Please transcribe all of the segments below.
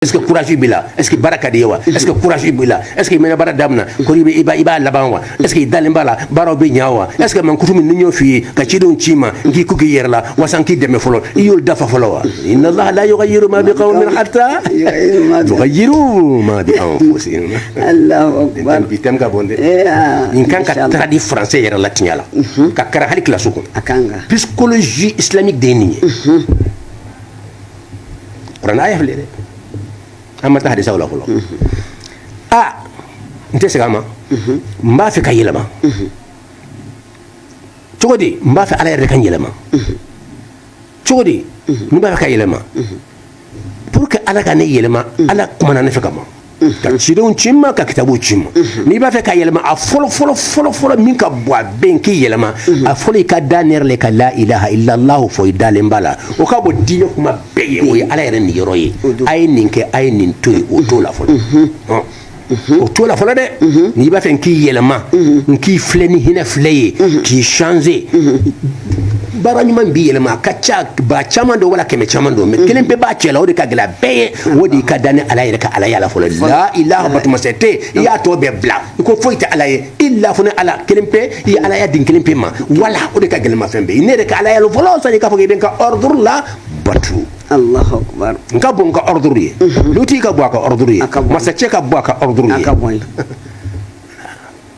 est ce que courage b'i la est ce que baara ka d'i ye wa est ce que courage b'i la est ce que i mana baara damina ko i bɛ- i b'a i b'a laban wa est ce que i dalen b'a la baaraw bɛ ɲa wa est ce que mankutu min ni n y'o f'i ye ka cidenw ci i ma n k'i ku k'i yɛrɛ la wasa n k'i dɛmɛ fɔlɔ i y'olu dafa fɔlɔ wa inna allaha la yughayyiru ma bi qawmin hatta Yughayyiru ma bi- yughayyiru ma bi anfusihim Allahu akbar. bi thème ka bon dɛ Eh, ah, nin kan ka inshallah. traduit français yɛrɛ la tiɲɛ la ka kara hali kilasi kɔnɔ A kan ka. psychologie islamique de ye nin ye kuranɛ aya filɛ dɛ an ma taa hadisaw la fɔlɔ an tɛ segin a ma n b'a fɛ ka yɛlɛma cogo di n b'a fɛ ala yɛrɛ de ka n yɛlɛma cogo di n b'a fɛ ka yɛlɛma pour que ala ka ne yɛlɛma ala kumana ne fɛ ka ma ka cidenw ci n ma ka kitabu ci n ma n'i b'a fɛ ka yɛlɛma a fɔlɔ fɔlɔ fɔlɔ fɔlɔ min ka bon a bɛn k'i yɛlɛma a fɔlɔ i ka da ne yɛrɛ le ka la ilaha illallahu fɔ i dalen b'a la o ka bon diinɛ kuma bɛɛ ye o ye ala yɛrɛ niyɔrɔ ye a ye nin kɛ a ye nin to ye o t'o la fɔlɔ o t'o la fɔlɔ dɛ n'i b'a fɛ n k'i yɛlɛma n k'i filɛ ni hinɛ filɛ ye k'i changer baara ɲuman b'i yɛlɛma a ka ca ba caman don wala kɛmɛ caman don mais kelen pe b'a cɛ la o de ka gɛlɛn bɛɛ ye o de ka da ne ala yɛrɛ ka alaya la fɔlɔ la ilaha batuma si tɛ i y'a tɔ bɛɛ bila i ko foyi tɛ ala ye illa fo n'ala kelen pe i ye alaya di n kelen pe ma wala o de ka gɛlɛn n ma fɛn bɛɛ ne yɛrɛ ka alaya la fɔlɔ sani k'a fɔ i bɛ n ka ordre labatu n ka bon n ka ordre ye lutigi ka bon a ka ordre ye masacɛ ka bon a ka ordre ye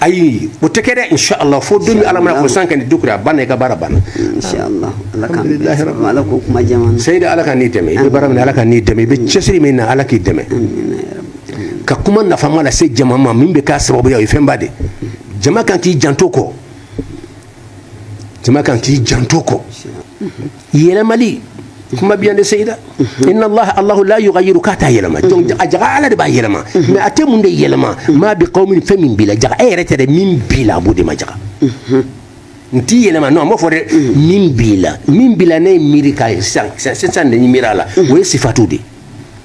ayi o tɛ kɛ inshallah fo don min ala mana ko san ka nin dukura a ban i ka baara banna seyida ala ka ni dɛmɛ i bɛ baara min ala ka' dɛmɛ i bɛ cɛsiri min na ala k'i dɛmɛ ka kuma nafama lase jama ma min bɛ kɛ sababu ye fɛnba de jama kan k'i janto kɔ jama kan k'i janto kɔ yɛlɛmali kuma bɛ yan de seyida mhm. inna allah allah la yughayyiru k'a t'a yɛlɛma mhm. donc a jaga ala de b'a yɛlɛma mhm. mais a tɛ mun de yɛlɛma ma bi qaumin fɛn min b'i la jaga e yɛrɛ tɛ dɛ min b'i la a b'o de ma jaga n t'i yɛlɛma non a m'o fɔ dɛ min b'i la min b'i la ne ye miiri k'a ye sisan sisan de ye miiri a la o ye sifatu de ye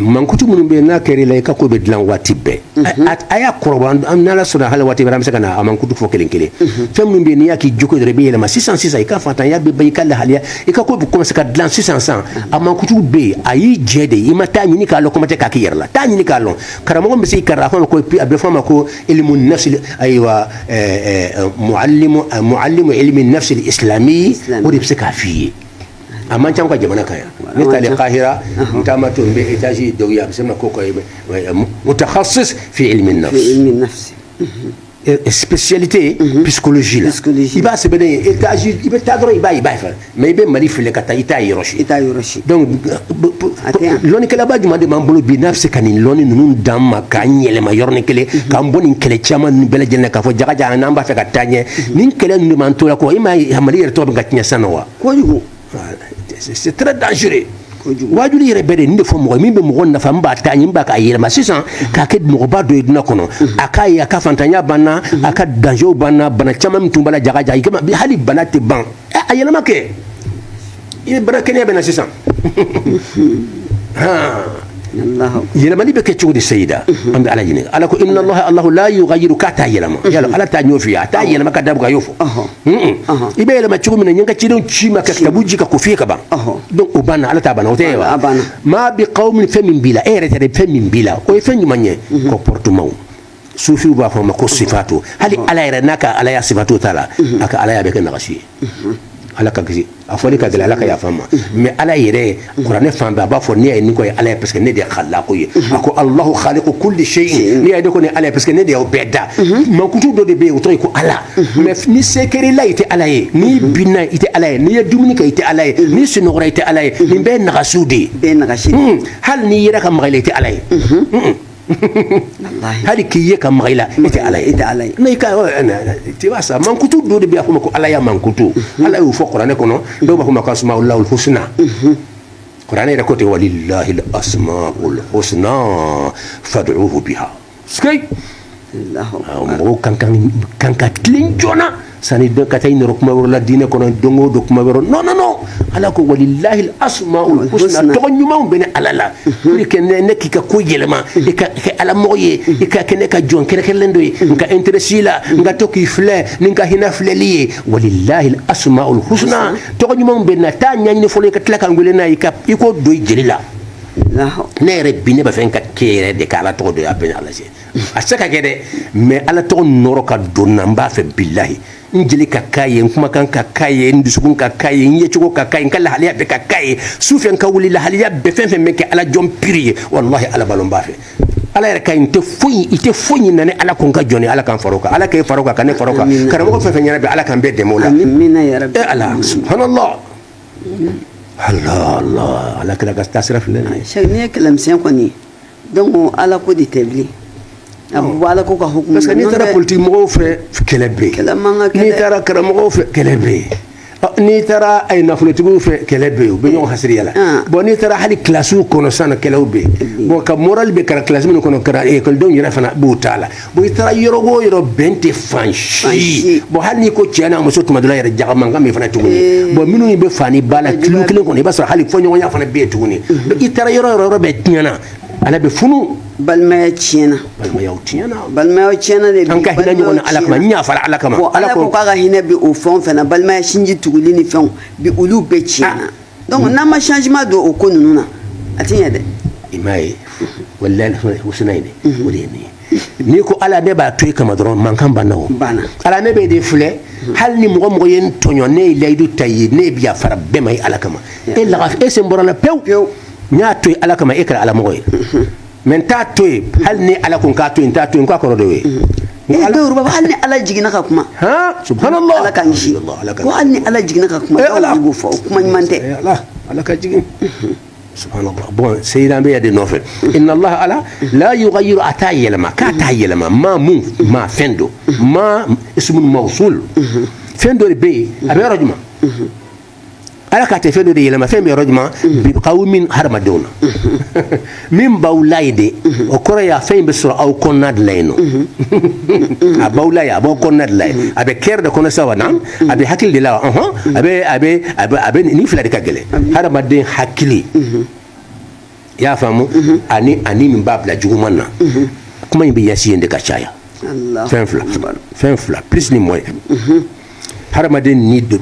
mankutu minnu bɛ n'a kɛr'i la i ka ko bɛ dilan waati bɛɛ a y'a kɔrɔ an ala sɔrɔ hali waati bɛ se ka na a mankutu fɔ kelen kelen fɛn min bɛ n'i y'a k'i cogo yɛrɛ bɛ yɛlɛma sisan sisan i ka faantanya bɛ ban i ka lahalaya i ka ko bɛ commencer ka dilan sisan sisan a mankutu bɛ yen a y'i jɛdɛ i ma taa ɲini k'a lɔn kuma tɛ k'a k'i yɛrɛ la taa ɲini k'a dɔn karamɔgɔ bɛ se kara a ko a bɛ f'a ma ko ilmu nafsi ayiwa muallimu ilmi nafsi al islami o de bɛ se k'a f'i ye a man ca an ka jamana kan yan ne taalen kahira n taamatɔ n bɛ etazi dɔw ye a bɛ sɛbɛn ko mutahasis fi ilmi nafs spécialité psychologie la i b'a sɛbɛn ye étage i bɛ taa dɔrɔn i b'a ye i b'a ye fana mais i bɛ Mali filɛ ka taa i t'a yɔrɔ si i t'a yɔrɔ si donc lɔnnikɛlaba jumɛn de b'an bolo bi n'a bɛ se ka nin lɔnni ninnu d'an ma k'an yɛlɛma yɔrɔnin kelen k'an bɔ nin kɛlɛ caman ninnu bɛɛ lajɛlen na k'a fɔ jaga jaga n'an b'a fɛ ka taa ɲɛ nin kɛlɛ ninnu de b'an to la kɔ i m'a ye Mali yɛrɛ tɔgɔ bɛ ka tiɲɛ sisan nɔ wa kojugu c'est très dangereux wajuli yɛrɛ bɛ de nin de fɔ mɔgɔ min bɛ mɔgɔ nafa n b'a taa ɲini n b'a k'a yɛlɛma sisan k'a kɛ mɔgɔba dɔ ye duniya kɔnɔ a k'a ye a ka faantanya banna a ka danger banna bana caman min tun b'a la jaga jaga i kama hali bana tɛ ban a yɛlɛma kɛ i bɛ bana kɛnɛya bɛ na sisan yɛlɛmani bɛ kɛ cogo di sayida an bɛ ala ɲininka ala ko inna allaha allahu la yughayyiru k'a t'a yɛlɛma yala ala t'a ɲɛf'i ye a t'a yɛlɛma ka dabuka y'o fɔ i bɛ yɛlɛma cogo min na n ye n ka cidenw ci i ma ka kitabu jigin k'a ko f'i ye ka ban donc o banna ala ta banna o tɛ ye wa maa bi qawmin fɛn min b'i la e yɛrɛ tɛ dɛ fɛn min b'i la o ye fɛn ɲuman ye comportement sufiw b'a fɔ a ma ko sifatu hali ala yɛrɛ n'a ka alaya sifatu t'a la mhm. a ka alaya bɛ kɛ nagasi ye mhm. ala k'an kisi a fɔli ka gɛlɛn ala ka yafa an ma mhm. mais ala yɛrɛ kuranɛ fan bɛɛ a b'a fɔ ne ye ni ko ye ala ye parce que ne de ye khallaqu ye a ko allahu khaliqu kulli shay'in ne ye de ko ni ala ye parce que ne de y'o bɛɛ da mankutu dɔ de bɛ yen o tɔgɔ ye ko ala mais ni se kɛra i la i tɛ ala ye n'i binna i tɛ ala ye n'i ye dumuni kɛ i tɛ ala ye n'i sunɔgɔra i tɛ ala ye nin bɛɛ ye nagasiw de ye hmm. hali n'i yɛrɛ ka maga i la i tɛ ala ye hmm. hali k'i ye ka maga i la e tɛ ala ye n'i ka t'i wasa mankutu dɔ de bɛ yen a fɔ a ma ko alaya mankutu mhm. ala y'o fɔ kuranɛ kɔnɔ mhm. dɔw b'a fɔ a ma ko asmaullahil husna mhm. kuranɛ yɛrɛ ko ten walillahil asmaul husna fad'uhu biha c'est que mɔgɔw ka kan ka tilen joona sani ka taa yɔrɔ kuma wɛrɛ la diinɛ kɔnɔ don o don kuma wɛrɛ non non non ala ko walillahil asmaul husna tɔgɔ ɲumanw bɛ ne ala la kɛ ne ne k'i ka ko yɛlɛma i ka kɛ alamɔgɔ ye i ka kɛ ne ka jɔn kɛrɛnkɛrɛnnen dɔ ye n ka intéresser i la n ka to k'i filɛ ni n ka hinɛ filɛli ye walillahil asmaul husna tɔgɔ ɲumanw bɛ n na taa a ɲɛɲini fɔlɔ i ka tila ka n wele n'a k'i ko don i jeli la ne yɛrɛ bi ne b'a fɛ n ka kɛ yɛrɛ de kɛ ala tɔgɔ dɔ ye a bɛ ala lajɛ a se ka kɛ dɛ mais ala tɔgɔ nɔɔrɔ ka don n na n b'a fɛ bilayi n jeli ka k'a ye n kumakan ka k'a ye n dusukun ka k'a ye n yecogo ka k'a ye n ka lahalaya bɛɛ ka k'a ye su fɛ n ka wuli lahalaya bɛɛ fɛn fɛn bɛ kɛ ala jɔn piri ye walahi ala b'a lɔn n b'a fɛ ala yɛrɛ ka i tɛ foyi ɲini ne ala kun ka jɔn ala k'an fara o kan ala k'e fara o kan ka ne fara o kan karamɔgɔ fɛn fɛn ɲɛna bɛ ala k'an bɛɛ dɛmɛ o la e ala subhanallah ala kira ka taa sira filɛ nin ye kɛlɛmi kɔni dɔnku ala ko de tɛ bilen a bɛ bɔ ala ko ka hukumu parce que n'i na, n'i taara tɛ- politiki mɔgɔw fɛ kɛlɛ bɛ Kɛlɛ man ka kɛ n'i dɛ. taara karamɔgɔw fɛ kɛlɛ bɛ yen Ɔ, n'i taara a ye nafolotigiw fɛ kɛlɛ bɛ yen u bɛ ɲɔgɔn hasidiya la Ah. bɔn n'i taara hali kilasiw kɔnɔ sisan nɔ kɛlɛw bɛ yen bɔn ka morali bɛ kalan kilasi minnu kɔnɔ kɛra ekɔlidenw yɛrɛ fana b'u ta la bon i taara yɔrɔ o yɔrɔ bɛn tɛ fan si bon hali n'i ko cɛ n'a muso tuma dɔ la yɛrɛ jaga mankan bɛ fana tuguni eh. bon minnu bɛ fa ni ba la kilo kelen kɔnɔ i b'a sɔrɔ hali fɔɲɔgɔnya fana bɛ yen tuguni mm-hmm. i taara yɔrɔ yɔrɔ bɛɛ tiɲɛna ala bɛ funu balimaya tiɲɛna balimayaw tiɲɛna balimayaw tiɲɛna de an ka hinɛ ɲɔgɔn na ala kama n y'a fara ala kama ala ko k'a ka hinɛ bi o fɛn o fɛn na balimaya sinji tuguli ni fɛnw bi olu bɛɛ tiɲɛna ah. donc n'an ma changement don o ko ninnu na a tɛ ɲɛ dɛ i m'a ye walahi husina ye dɛ o de ye nin ye n'i ko ala ne b'a to i kama dɔrɔn mankan banna o banna ala ne b'e de filɛ hali ni mɔgɔ mɔgɔ ye n tɔɲɔ ne ye layidu ta ye ne bi yafara bɛɛ ma ye ala kama e laga e sen bɔr'a la pewu pewu n y'a to yen ala kama e kɛra alamɔgɔ ye mɛ n t'a to yen hali ni ala ko n k'a to yen n t'a to yen k'a kɔrɔ de ye dɔw b'a hali ni ala jiginna ka kuma subhanallah ala k'an kisi ko hali ni ala jiginna ka kuma dɔw b'o fɔ o kuma ɲuman tɛ ala ka jigin subhanallah bɔn seyiran bɛ ya de nɔfɛ inna allah ala la yughayyiru a t'a yɛlɛma k'a t'a yɛlɛma maa mun maa fɛn don maa ismun mawsul fɛn dɔ de bɛ yen a bɛ yɔrɔ jumɛn ala k'a tɛ fɛn dɔ de yɛlɛma fɛn bɛ yɔrɔ jumɛn bi kawmin hadamadenw na min b'aw la ye de o kɔrɔ y'a fɛn in bɛ sɔrɔ aw kɔnɔna de la yen nɔ a b'aw la ye a b'aw kɔnɔna de la yen a bɛ cœur de kɔnɔ sa wa na a bɛ hakili de la wa a bɛ a bɛ a bɛ nin fila de ka gɛlɛn hadamaden hakili i y'a faamu mhm. ani ani min b'a bila juguman na mhm. kuma in bɛ yasi yen de ka caya fɛn fila fɛn fila plus ni moyen mhm. hadamaden ni do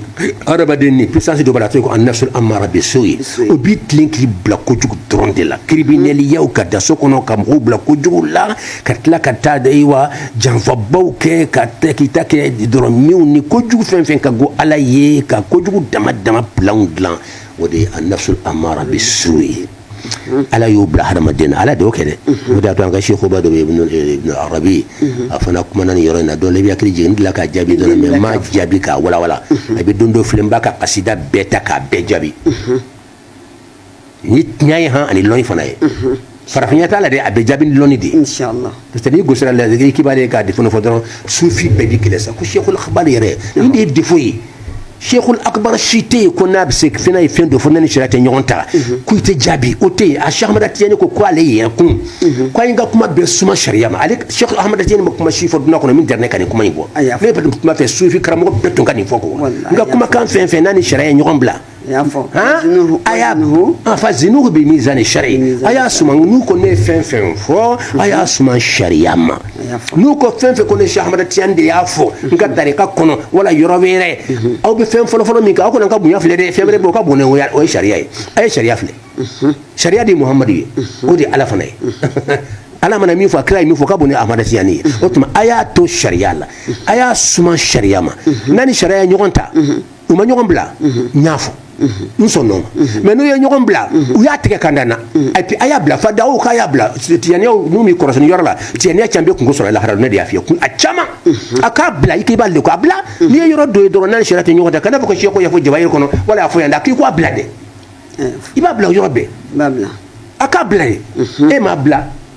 hadamaden ni puissance dɔ b'a la a tɔgɔ anafsul amara bisu'i o b'i tilen k'i bila kojugu dɔrɔn de la kiriminɛliyaw ka da so kɔnɔ ka mɔgɔw bila kojugu la ka tila ka taa da wa janfabaw kɛ ka tɛ k'i ta kɛ dɔrɔn minw ni kojugu fɛn fɛn ka go ala ye ka kojugu dama dama pilanw dilan o de ye anafsul amara bisu'i ala y'o bila hadamaden na ala de y'o kɛ dɛ o de y'a to an ka sekuba dɔ ibnul arabi a fana kumana nin yɔrɔ in na dɔn la i bɛ hakili jigin n delila k'a jaabi dɔɔnin mɛ n m'a jaabi k'a walawala a bɛ don dɔ filɛ n b'a ka kasida bɛɛ ta k'a bɛɛ jaabi ni tiɲɛ ye han ani lɔnni fana ye farafinya t'a la dɛ a bɛ jaabi ni lɔnni de ye inshallah parce que n'i gosira la zikiri k'i b'ale ka defo fɔ dɔrɔn sufi bɛɛ b'i kɛlɛ sa ko sheikhul akbar yɛrɛ nin de ye defo ye sheikhul akbar si tɛ yen ko n'a bɛ se fɛn ye fɛn dɔ fɔ n'a ni sariya tɛ ɲɔgɔn ta ko i tɛ jaabi o tɛ yen a sheikh ahmad tijani ko ko ale yɛrɛ tun ko an ka kuma bɛɛ suma sariya ma ale sheikh ahmad tijani ma kuma si fɔ duniya kɔnɔ min dara ne ka nin kuma in fɔ ne bɛ kuma fɛ sufi karamɔgɔ bɛɛ tun ka nin fɔ ko n ka kumakan fɛn fɛn n'a ni sariya ye ɲɔgɔn bila a y'a fa zinuhu bi mizani shari a y'a suma n'u ko ne ye fɛn fɛn fɔ a y'a suma sariya ma n'u ko fɛn fɛn ko ne Cheikh Tijani de y'a fɔ n ka tarika kɔnɔ wala yɔrɔ wɛrɛ aw bɛ fɛn fɔlɔfɔlɔ min kɛ aw kana n ka bonya filɛ dɛ fɛn wɛrɛ b'o ka bon o ye sariya ye a ye sariya filɛ sariya de ye muhamadu ye o de ye ala fana ye ala mana min fɔ a kira ye min fɔ ka bon ni Ahmad Tijani ye o tuma a y'a to sariya la a y'a suma sariya ma n'a ni sariya ye ɲɔgɔn ta u ma ɲɔgɔn bila n y'a fɔ n sɔnn'o ma mais n'u ye ɲɔgɔn bila u y'a tigɛ ka da n na et puis a y'a bila fada'u k'a y'a bila tijaniyaw n'u m'u kɔrɔsi nin yɔrɔ la tijaniya caman bɛ kunko sɔrɔ lahara ne de y'a f'i ye a caman a k'a bila i k'i b'ale ko a bila n'i ye yɔrɔ dɔ ye dɔrɔn n'a ni sariya tɛ ɲɔgɔn ta kana fɔ ko seku y'a fɔ jawahiri kɔnɔ wala a y'a fɔ yan dɛ k'i k'a bila dɛ i b'a bila o yɔrɔ bɛɛ a k'a bila ye e m'a bila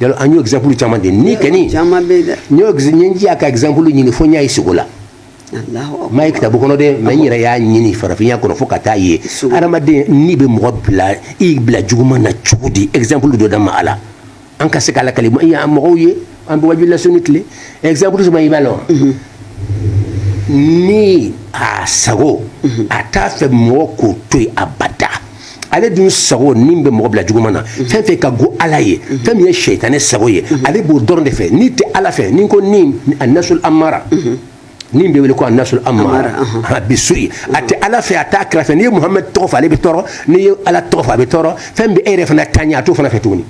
yɔrɔ an y'o exemple caman di ni kɛni caman bɛ dɛ n y'o n y'a ka exemple ɲini fo n y'a ye sugo la n m'a ye kitabu kɔnɔ dɛ mais n yɛrɛ y'a ɲini farafinya kɔnɔ fo ka taa ye hadamaden ni bɛ mɔgɔ bila i bila juguman na cogo di exemple dɔ da ma a la an ka se ka lakali mɔgɔw ye an bɛ wajuli lasonni tile exemple suma i b'a lɔn ni a sago a t'a fɛ mɔgɔ k'o to yen abada ale dun sago nin bɛ mɔgɔ bila juguman na fɛn fɛn ka go ala ye fɛn min ye sɛyitani sago ye ale b'o dɔrɔn de fɛ ni tɛ ala fɛ nin ko ni annafsul ammara min bɛ wele ko annafsul ammara bissu'i a tɛ ala fɛ a tɛ kira fɛ n'i ye muhamadu tɔgɔ fɔ ale bɛ tɔɔrɔ n'i ye ala tɔgɔ fɔ a bɛ tɔɔrɔ fɛn min b'e yɛrɛ fana taa ɲɛ a t'o fana fɛ tuguni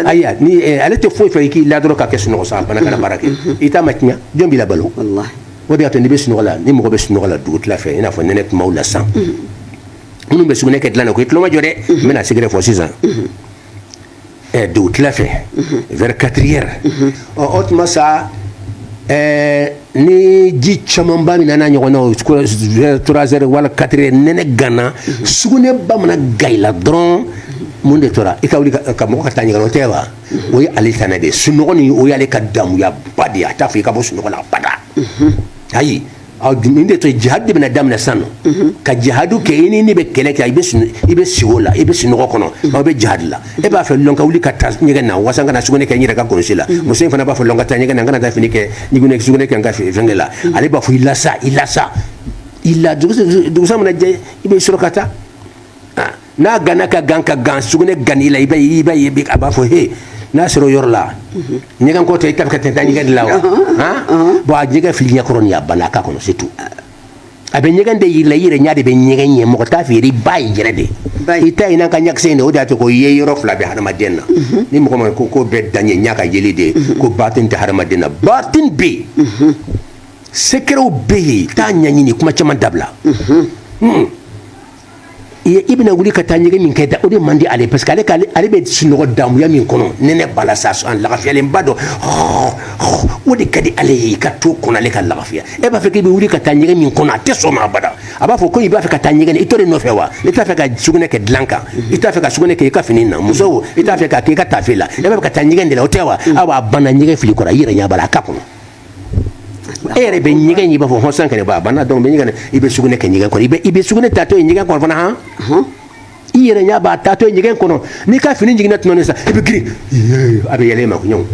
ayi ale tɛ foyi fɛ i k'i la dɔrɔn ka kɛ sunɔgɔ sa a bana kana baara kɛ i t'a ma tiɲɛ jɔn b'i labalo o de y'a to n'i bɛ sunɔgɔ la ni mɔgɔ bɛ sunɔgɔ la dugutila fɛ i n'a fɔ nɛnɛ tuma la san minnu bɛ sugunɛ kɛ dilan na ko i tulo majɔ dɛ n bɛna secret fɔ sisan dugutila fɛ vers quatre heures ɔ o tuma sa ni ji camanba min an'a ɲɔgɔnna trois heures wala quatre heures nɛnɛ ganna sugunɛ ba mana gan i la dɔrɔn mun de tora i ka wuli ka mɔgɔ ka taa ɲɛgɛn na o tɛ wa o ye ale tana de ye sunɔgɔ nin o y'ale ka damuya ba de ye a t'a fɛ i ka bɔ sunɔgɔ la abada ayi ɔ nin de to jihad de bɛna daminɛ sisan nɔ ka jihadu kɛ i ni ni bɛ kɛlɛ kɛ i bɛ i bɛ sugo la i bɛ sunɔgɔ kɔnɔ aw bɛ jihad la e b'a fɔ lɔ n ka wuli ka taa ɲɛgɛn na wasa n kana sugunɛ kɛ n yɛrɛ ka kulusi la muso in fana b'a fɔ lɔ n ka taa ɲɛgɛn na n kana taa fini kɛ ni ko ne sugunɛ kɛ n ka fɛnkɛ la ale b'a fɔ i la sa i la sa i la dugusa mana jɛ i bɛ sɔrɔ ka taa n'a ganna ka gan ka gan sugunɛ ganni la i b'a ye i b'a ye a b'a fɔ he n'a sera o yɔrɔ la ɲɛgɛn ko tɛ i t'a fɛ ka taa ɲɛgɛn de la wa han bon a ɲɛgɛn fil'i ɲɛ kɔrɔ nin a banna a k'a kɔnɔ c'est tout a bɛ ɲɛgɛn de yir'i la i yɛrɛ ɲɛ de bɛ ɲɛgɛn ye mɔgɔ t'a fɔ yɛrɛ i b'a ye yɛrɛ dɛ i t'a ye n'an ka ɲakisɛ in dɛ o de y'a to ko yeyɔrɔ fila bɛ hadamaden na ni mɔgɔ min ko ko bɛɛ dan ye ɲa ka yeli de ye ko batin tɛ hadamaden na batin bɛ yen sekerew bɛ yen t'a ɲɛɲini kuma caman dabila i bɛna wuli ka taa ɲɛgɛn min kɛ da o de man di ale parce que ale k'ale ale bɛ sunɔgɔ damuya min kɔnɔ nɛnɛ b'a la sa sɔn lafiyalenba don o de ka di ale ye i ka to o kɔnɔ ale ka lafiya e b'a fɛ k'i bɛ wuli ka taa ɲɛgɛn min kɔnɔ a tɛ sɔn o ma abada a b'a fɔ ko i b'a fɛ ka taa ɲɛgɛn i to de nɔfɛ wa i t'a fɛ ka sugunɛ kɛ dilan kan i t'a fɛ ka sugunɛ kɛ i ka fini na muso i t'a fɛ k'a k'i ka taafe la e b'a fɛ ka taa ɲɛgɛn de la o tɛ wa aw b'a banna ɲɛgɛn fili kɔrɔ i yɛrɛ ɲɛ b'a la a ka kɔnɔ e yɛrɛ bɛ ɲɛgɛn i b'a fɔ hɔsan kɛnɛ ba banna donc i bɛ ɲɛgɛn i bɛ sugunɛ kɛ ɲɛgɛn kɔnɔ i bɛ i bɛ sugunɛ tatɔ ye ɲɛgɛn kɔnɔ fana han i yɛrɛ ɲɛ b'a tatɔ ye ɲɛgɛn kɔnɔ n'i ka fini ɲiginna tuma min sa i bɛ girin a bɛ yɛlɛ e ma kuɲɔgɔn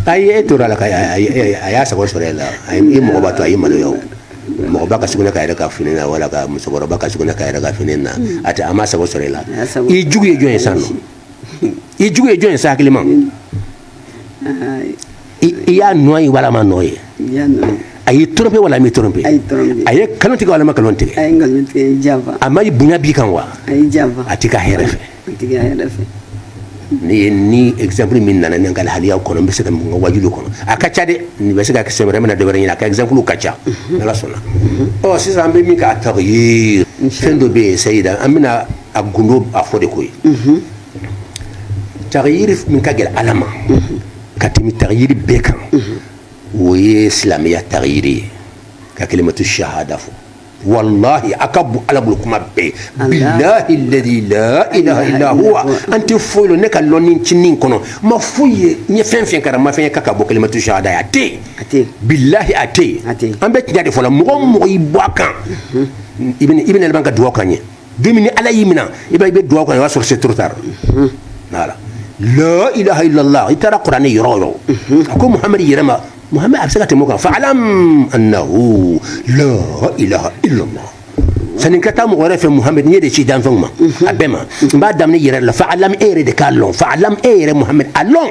ayi e tora la ka a y'a sago sɔrɔ e la i mɔgɔba to a y'i maloya o mɔgɔba ka sugunɛ k'a yɛrɛ ka fini na wala ka musokɔrɔba ka sugunɛ k'a yɛrɛ ka fini na a tɛ a m'a sago sɔrɔ e la i jugu ye jɔn ye san nɔ i jugu ye jɔn ye sa hakilima i y'a nɔ ye wala i m'a nɔ ye a y'i trompé wala a m'i trompé a ye nkalon tigɛ wala a ma nkalon tigɛ a ma bonya b'i kan wa a t'i ka hɛrɛ fɛ ne ye nin exemple min nana ne ka lahaliyaw kɔnɔ n bɛ se ka mun ka waajuliw kɔnɔ a ka ca dɛ nin bɛ se ka sɛbɛn wɛrɛ bɛna dɔ wɛrɛ ɲini a ka exemple ka ca mhm. n'ala sɔnna mhm. ɔ sisan an bɛ min kan tagiri fɛn dɔ bɛ yen sayida an bɛna a gundo a fɔ de koyi mhm. tagiri min ka gɛlɛn ala ma ka tɛmɛ tagiri bɛɛ kan o ye silamɛya tagiri ye ka kalimatu shahada fɔ walahi a ka bon ala bolo kuma bɛɛ bilahi ladi la ilaha illa huwa an tɛ foyi lɔn ne ka lɔnni cinin kɔnɔ n ma foyi ye n ye fɛn fɛn karan n ma fɛn ye k'a ka bon kalimatu shahada ye a tɛ yen bilahi a tɛ yen an bɛ tiɲɛ de fɔ la mɔgɔ o mɔgɔ y'i bɔ a kan i bɛna laban ka dugawu kan ye don min ni ala y'i minɛ i i bɛ dugawu kan i b'a sɔrɔ se turuta la ilaha illa lah i taara kuranɛ yɔrɔ o yɔrɔ a ko muhamɛdi yɛrɛ ma muhamɛdi a bɛ se ka tɛmɛ o kan fa'lam annahu la ilaha illa lah sani n ka taa mɔgɔ wɛrɛ fɛ muhamɛdi n ye e de ci danfɛnw ma a bɛɛ ma n b'a daminɛ i yɛrɛ la fa'lam e yɛrɛ de k'a lɔn fa'lam e yɛrɛ muhamɛdi a lɔn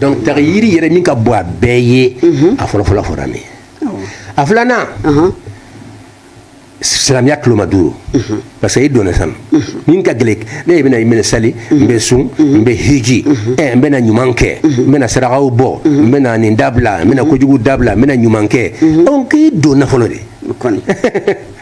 donc tagiri yɛrɛ min ka bon a bɛɛ ye a fɔlɔfɔlɔ fɔra min a filanan silamɛya tuloma duuru parce que i donna sa min ka gɛlɛn ne ye bɛna i minɛ sali n bɛ sun n bɛ hiji ɛ n bɛna ɲuman kɛ n bɛna sarakaw bɔ n bɛna nin dabila n bɛna kojugu dabila n bɛna ɲuman kɛ donc i donna fɔlɔ de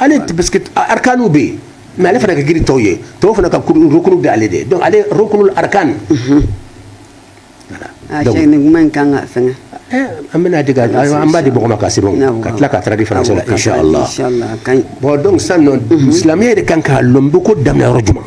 ale parce que arkanw bɛ yen mais ale fana ka girin tɔw ye tɔw fana ka rukunu bɛ ale de donc ale rukunul arkan nin ka fɛn an bɛna an b'a di mɔgɔw ma ka se ka tila k'a traduit faransi la insala bon donc san silamɛ de ka kan k'a lɔn i bɛ ko daminɛ yɔrɔ jumɛn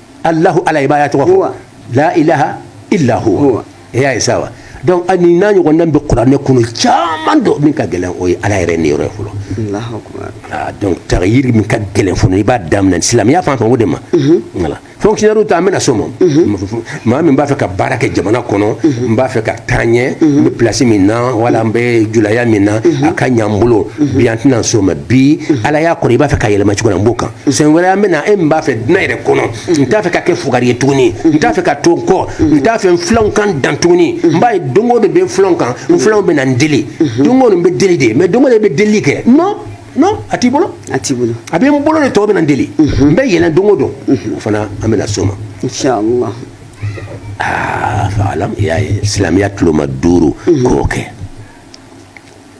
Alahu ala i b'a tɔgɔ fɔ la ilaha ila huwa e y'a ye sa wa donc ani n'a ɲɔgɔn bɛ kuranɛ kɔnɔ caman dɔ min ka gɛlɛn o ye ala yɛrɛ ni yɔrɔ fɔlɔ donc taghyir min ka gɛlɛn fɔlɔ i b'a daminɛ silamɛya fan fɛ o de ma fonctionnaire ta an bɛna s'o ma maa min b'a fɛ ka baara kɛ jamana kɔnɔ n b'a fɛ ka taa ɲɛ n bɛ plasi min na wala n bɛ julaya min na a ka ɲa n bolo bi an tɛna s'o ma bi ala y'a kɔrɔ i b'a fɛ ka yɛlɛma cogo n b'o kan sen wɛrɛ an bɛna e min b'a fɛ duɲa yɛrɛ kɔnɔ n t'a fɛ ka kɛ fugari ye tuguni n t'a fɛ ka to kɔ n t'a fɛ n filanw ka n dan tuguni n b'a ye don o don bɛ filanw kan n filanw bɛ na n deli don o don bɛ deli de mais don o don bɛ deli kɛ non non a t'i bolo a t'i bolo a bɛ n bolo de tɔw bɛ na n deli n bɛ yɛlɛn don o don o fana an bɛna s'o ma inshallah aa fa alam i y'a ye silamɛya tuloma duuru k'o kɛ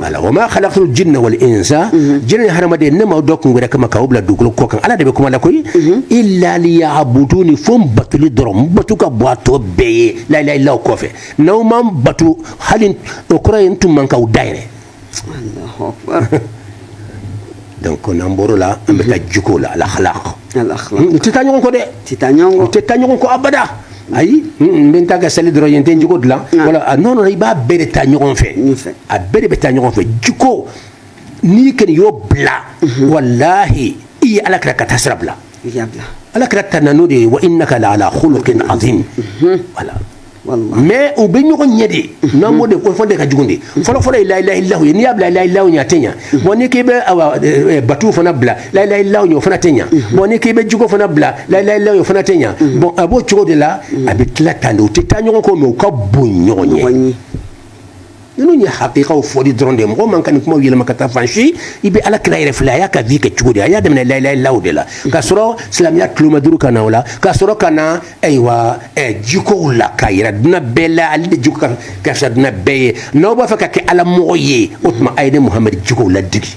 wala wa ma khalaqul jinna wal insa jinɛ ni haramaden ne m'aw da kun wɛrɛ kama k'aw bila dugukolo kɔ kan ala de bɛ kuma la koyi illa liya'buduni fo n batuli dɔrɔn batu ka bon a tɔ bɛɛ ye la ilaha illa kɔfɛ n'aw ma n batu hali o kɔrɔ ye n tun man k'aw da yɛrɛ donc n'an bɔr'o la an bɛ taa jiko la al akhlaq hmm, u tɛ taa ɲɔgɔn kɔ dɛ u tɛ taa ɲɔgɔn kɔ abada ayi n bɛ n ta kɛ seli dɔrɔn ye n tɛ n jiko dilan ah. wala a non non i b'a bɛɛ de ta ɲɔgɔn fɛ a bɛɛ de bɛ taa ɲɔgɔn fɛ jiko n'i kɔni y'o bila mhm. walahi i ye ala kira ka taasira bila ala kira tanuna n'o de ye wa innaka la ala khuluqin azim mhm. voilà mais u bɛ ɲɔgɔn ɲɛ de n'an b'o de ko fɔ de ka jugu de fɔlɔfɔlɔ ye la ilaha illallah ye n'i y'a bila la ilaha illallah ɲɛ a tɛ ɲa bon n'i k'i bɛ batu fana bila la ilaha illallah ɲɛ o fana tɛ ɲa bon n'i k'i bɛ jiko fana bila la ilaha illallah ɲɛ o fana tɛ ɲa bon a b'o cogo de la a bɛ tila tan de u tɛ taa ɲɔgɔn kɔ mais u ka bon ɲɔgɔn ye ninnu ye hakikaw fɔli dɔrɔn de ye mɔgɔ man ka nin kumaw yɛlɛma ka taa fan si i bɛ ala kira yɛrɛ filɛ a y'a ka vie kɛ cogo di a y'a daminɛ la ilaha illallah de la ka sɔrɔ silamɛya tuloma duuru ka na o la ka sɔrɔ ka na ayiwa jikow la k'a yira duɲa bɛɛ la ale de jiko ka fisa duɲa bɛɛ ye n'aw b'a fɛ ka kɛ ala mɔgɔ ye o tuma a ye ne muhamadu jikow ladege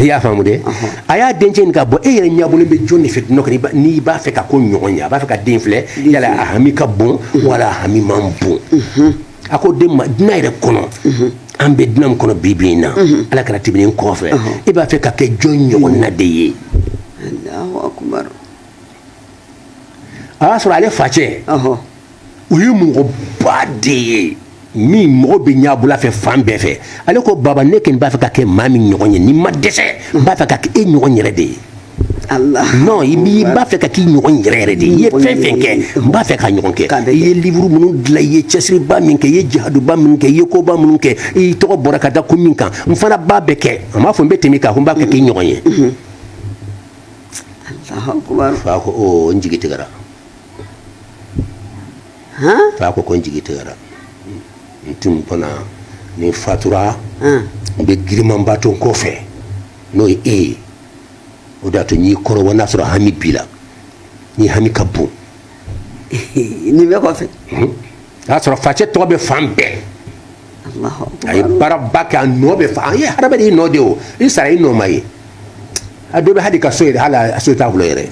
i y'a faamu dɛ a y'a dencɛ ɲininka bon e yɛrɛ ɲɛbɔlen bɛ jɔn de fɛ duɲa kɔnɔ n'i b'a fɛ ka k'o ɲɔgɔn ye a b'a fɛ ka den filɛ yala a hami ka bon wala a hami man bon a ko den ma duɲa yɛrɛ kɔnɔ an bɛ duɲa min kɔnɔ bi bi in na ala kira tɛmɛnen kɔfɛ e b'a fɛ ka kɛ jɔn ɲɔgɔnna de ye a y'a sɔrɔ ale facɛ o ye mɔgɔba de ye min mɔgɔ bɛ ɲɛ bɔla a fɛ fan bɛɛ fɛ ale ko baba ne kɔni b'a fɛ ka kɛ maa min ɲɔgɔn ye ni n ma dɛsɛ n b'a fɛ ka kɛ e ɲɔgɔn yɛrɛ de ye i b'a fɛ ka k'i ɲɔgɔn yɛrɛ yɛrɛ de ye i ye fɛn fɛn kɛ n b'a fɛ k'a ɲɔgɔn kɛ i ye liburu minnu dilan i ye cɛsiriba min kɛ i ye jihadiba min kɛ i ye koba minnu kɛ i tɔgɔ bɔra ka da ko min kan n fana b'a bɛɛ kɛ a m'a fɔ n bɛ tɛmɛ i kan ko n b'a kɛ k'i ɲɔgɔn ye fa ko n jigi tigɛ fa ko ko n jigi tigɛra n tun b'o la ni n fatura n bɛ girinmanba to n kɔfɛ n'o ye e ye o de y'a to n y'i kɔrɔbɔ n'a sɔrɔ hami b'i la n'i hami ka bon nin bɛɛ kɔfɛ o y'a sɔrɔ facɛ tɔgɔ bɛ fan bɛɛ a ye baaraba kɛ a nɔ bɛ fan bɛɛ hadamaden i nɔ de o i sara i nɔ ma ye a dɔ bɛ hali ka so hali so t'a bolo yɛrɛ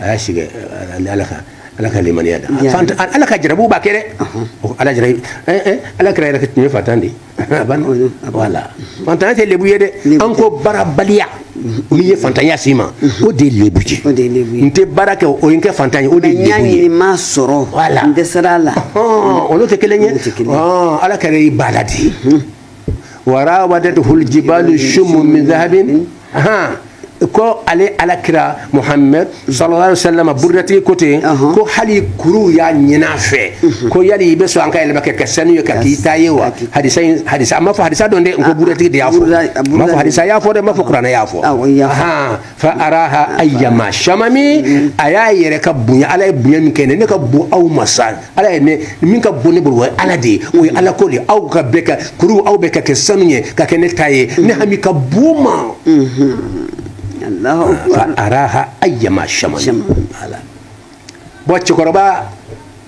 a y'a sigi ala kan ala ka limaniya da ala ka jarabi b'a kɛ dɛ ala ala kira yɛrɛ tun ye faantan de faantanya tɛ lebu ye dɛ an ko baarabaliya min ye faantanya s'i ma o de lebu ye n tɛ baara kɛ o ye n kɛ faantan ye o de n m'a sɔrɔ n dɛsɛra a la olu tɛ kelen ye ala kira i b'a la de warawadathul jibalu shummu min ko ale ala kira muhammed sallallahu alaihi wasallam burdatigi ko ten ko hali kuru y'a ɲini a fɛ mhm. ko yala i bɛ sɔn an ka yɛlɛma ka kɛ sanu ye ka k'i ta ye wa hadisa hadisa n ma fɔ hadisa don dɛ n ko ah, burdatigi de y'a fɔ n ma fɔ hadisa y'a fɔ dɛ n ma fɔ kuranɛ y'a fɔ ah, fa araha ayyama shamami mhm. a y'a yɛrɛ ka bonya ala ye bonya min kɛ ne ka bon aw ma sa Ala ye ne min ka bon ne bolo o ye ala de ye o ye ala ko de aw ka bɛɛ ka kuru aw bɛɛ ka kɛ sanu ye ka kɛ ne ta ye ne hami ka bon o ma fa araha ayyama shamami bon cɛkɔrɔba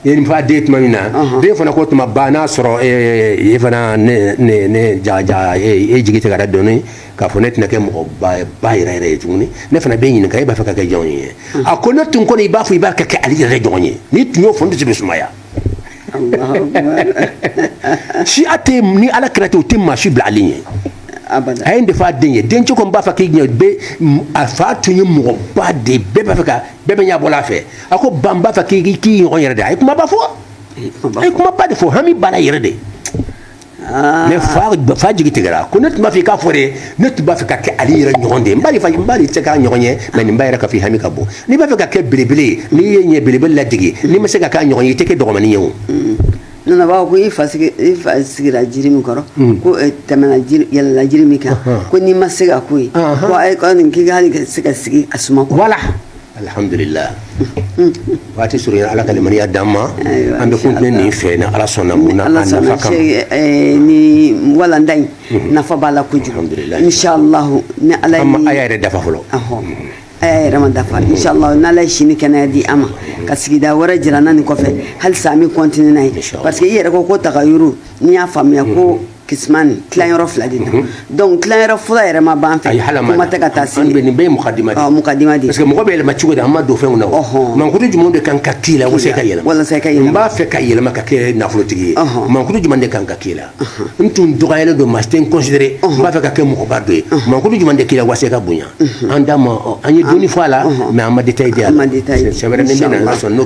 ye nin fɔ den tuma min na den fana ko o tuma ba n'a sɔrɔ e fana jaja e jigi tigɛra dɔɔnin k'a fɔ ne tɛna kɛ mɔgɔba yɛrɛ yɛrɛ ye tuguni ne fana b'i ɲininka e b'a fɛ ka kɛ jɔn ye hmm. a ko ne tun kɔni i b'a fɔ i b'a fɛ ka kɛ ali yɛrɛ ɲɔgɔn ye n'i tun y'o fɔ n dusu bɛ sumaya siya tɛ ni ala kira tɛ o tɛ maa si bila ali ɲɛ a ye nin de f'a den ye den ko ko n b'a fɛ k'i ɲɛ bɛ a fa tun ye mɔgɔba de ye bɛɛ b'a fɛ ka bɛɛ bɛ ɲɛ bɔ a fɛ a ko ba n b'a fɛ ka k'i ɲɔgɔn yɛrɛ de a ye kumaba fɔ a ye kumaba de fɔ hami b'a la yɛrɛ de mɛ fa ba- fa jigi tigɛra ko ne tun b'a fɛ i k'a fɔ de ne tun b'a fɛ ka kɛ ali yɛrɛ ɲɔgɔn de ye n b'a dɔn fa- n b'a dɔn i tɛ k'a ɲɔgɔn ye mɛ nin b'a yira k'a f'i hami ka bon n'i b'a fɛ ka kɛ belebele ye n'i ye ɲɛ belebele ladege n'i ma se ka k'a ɲɔgɔn ye i tɛ kɛ dɔgɔmanin ye o na an b'a fɔ ko i fa sigi- i fa sigira jiri min kɔrɔ ko eh, tɛmɛna jiri yɛlɛla jiri min kan ko n'i ma se ka ko ye Ahan. ko ayi ko a ɲini k'i ka hali ka se ka sigi a suma kɔrɔ wala alhamdulillah waati surunya ala ka limaniya d'an ma an bɛ continuer nin fɛ ni ala sɔnna ni walanda in nafa b'a la kojugu inshallah ni ala a yɛrɛ ma dafa fɔlɔ a yɛrɛ ma dafa inshallah n' ala ye si ni kɛnɛya di an ma ka sigida wɛrɛ jira an na nin kɔfɛ hali an bɛ continuer n'a ye parce que i yɛrɛ ko ko tagayɔrɔ n'i y'a faamuya ko Kisimani ni tilayɔrɔ fila de don donc tilayɔrɔ fɔlɔ yɛrɛ ma ban fɛ kuma tɛ ka taa se an bɛ nin bɛɛ ye mukaddima mukaddima de parce que mɔgɔ bɛ yɛlɛma cogo di an ma don fɛnw na ɔɔ mankutu jumɛn de kan ka k'i la walasa i ka yɛlɛma walasa ka n b'a fɛ ka yɛlɛma ka kɛ nafolotigi ye mankutu jumɛn de kan ka k'i la n tun dɔgɔyalen don maa tɛ n considérer n b'a fɛ ka kɛ mɔgɔba dɔ ye mankutu jumɛn de k'i la walasa i ka bonya an da ma an ye dɔɔni fɔ a la mais an ma détail di c'est n'o